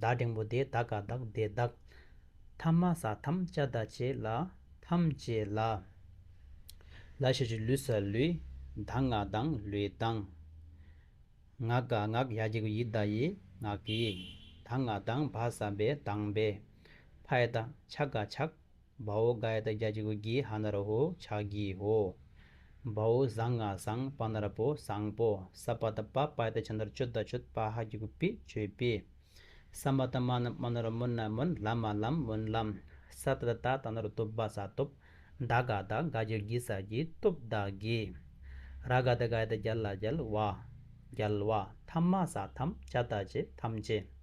བདག་འབྲིང་པོ་དེ་དག་ག་བདག་བདེ་བདག། ཐ་མ་ས་ཐམས་བཅའ་བདག་བཅས་ལ། ཐམས་བཅས་ལ། ལ་ཞེས་བྱའི་ལུས་ས་ལུས། བདག་ངག་བདང་ལུས་བདང། ངག་ག་ངག་ཡ་གྱི་གུ་ཡི་བདག་ཡི་ངག་གི། བདག་ངག་བདང་བ་ས་བའི་བདང་བའི། ཕ་ཡི་བདག་ཕྱག་ག་ཕྱག། བའོ་གཱའི་ད་རྒྱ་ཅི་གུ་གི་ཧ་ན་ར་ཧོ་ཕྱག་གི་ཧོ། བའོ་བཟང་ང་བཟང་པ་ན་ར་པོ་བཟང་པོ་ས་པ་ད་པ་པའི་ད་ཆ་ན་ར་ཅོ་ད་ཆོད་པ་ཧ་གི་གུ་པི་ཅོད་པི། ས་མ་ད་མ་ན་མ་ན་ར་མུན་ན་མུན་ལམ་མ་ལམ་མུན་ལམ། ས་ད་ད་ད་ན་ར་ཏོབ་བ་ས་ཏོབ། ད་ག་ད་ག་ཇི་གི་ས་གི་ཏོབ་ད་གི། ར་ག་ད་གའི་ད་རྒྱལ་ལ་རྒྱལ་བ། རྒྱལ་བ་ཐམ་མ་ས་ཐམ་ཅ་ད་ཅི་ཐམ་ཅི།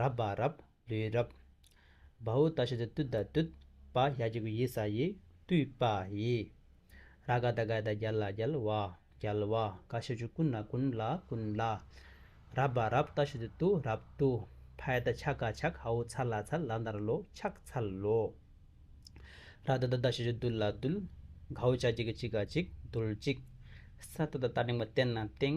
རབ་པ་རབ་ལུས་རབ། བ་ཨུ་ཏ་ཤི་ཏི་ཏུད་ད་ཏུད། པ་ཡ་ཅི་གུ་ཡི་ས་ཡི་ཏུའི་པ་ཡི། ར་ག་ད་གའི་ད་རྒྱལ་ལ་རྒྱལ་བ་རྒྱལ་བ། ཀ་ཤི་ཅུ་ཀུན་ལ་ཀུན་ལ་ཀུན་ལ། རབ་པ་རབ་ཏ་ཤི་ཏི་ཏུ་རབ་ཏུ། ཕ་ཡ་ད་ཆག་ག་ཆག་ཧ་ཨུ་ཚ་ལ་ཚ་ལ་འདར་ལོ་ཆག་ཚ་ལོ། ར་ད་ད་ད་ཤི་ཅུ་དུལ་ལ་དུལ། ག་ཨུ་ཅག་ཅི་གི་ཅི་ག་ཅིག་དུལ་ཅིག། ས་ཏ་ད་ཏ་ཏིང་པ་ཏན་ན་ཏིང།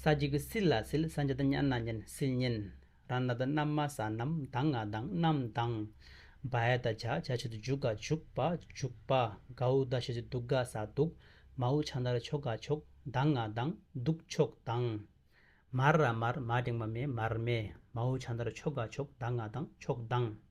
ས་གཅིག་གི་སིལ་ལ་སིལ་ས་གཉིས་དང་གཉན་ལ་གཉན་སིལ་གཉན། རང་སྣ་དང་རྣམ་མ་ས་རྣམ་མདངས་ང་མདངས་རྣམ་མདངས། བ་ཡ་དང་བྱ་བྱ་བྱེད་དུ་འཇུག་ག་འཇུག་པ་འཇུག་པ། ག་འུ་དག་བྱེད་དུ་འདུག་ག་ས་འདུག། མ་འུ་ཆང་དང་ར་ཆོག་ག་ཆོག་མདངས་ང་མདངས་འདུག་ཆོག་མདངས། མར་ར་མར་མ་འབྲེང་བ་མེ་མར་མེ། མ་འུ་ཆང་དང་ར་ཆོག་ག་ཆོག་མདངས་ང་མདངས་ཆོག་མདངས།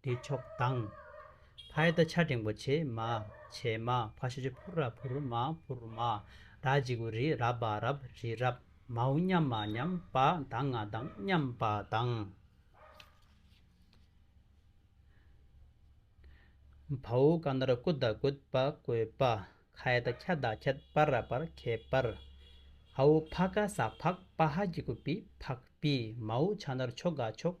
བདེ་མཆོག་དང། ཕའི་ད་ཆ་འབྲིང་པོ་བྱེ་མ་བྱེ་མ་ཕ་ཤ་ཤ་ཕུར་ར་ཕུར་མ་ཕུར་མ་ར་རྗི་གུ་རི་ར་བ་རབ་རི་རབ་མ་འུ་མཉམ་མ་མཉམ་པ་དང་ང་དང་མཉམ་པ་དང། ཕ་འུ་ཀ་ན་ར་ཀུ་ད་ཀུད་པ་ཀོད་པ་ཁའི་ད་ཁྱ་ད་ཁད་པར་ར་པར་ཁད་པར་ཧ་འུ་ཕ་ཀ་ས་ཕག་པ་ཧ་རྗི་གུ་པི་ཕག་པི་མ་འུ་ཕྱ་ན་ར་ཕྱོ་ག་ཕྱོགས།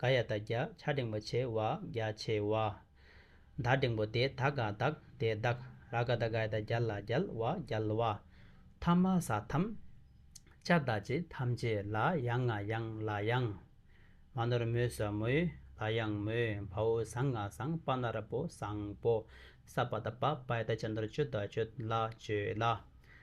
ག་ཡ་དག་རྒྱ་ཆ་འབྲིང་པོ་ཆེ་བ་རྒྱ་ཆེ་བ། དག་འབྲིང་པོ་དེ་དག་ག་དག་དེ་དག་ར་ག་དག་ག་ཡ་དག་རྒྱ་ལ་རྒྱལ་བ་རྒྱལ་བ། ཐ་མ་ས་ཐམ། ཅ་དག་ཅི་ཐམས་ཅད་ལ་ཡང་ང་ཡང་ལ་ཡང། མ་ནོར་མོས་ས་མོས་ལ་ཡང་མོས་བ་འུ་ཟང་ང་ཟང་པ་ན་ར་པོ་ཟང་པོ། ས་པ་ད་པ་པ་ཡ་དག་ཅ་ནོར་ཅོ་དག་ཅོད་ལ་ཅོད་ལ།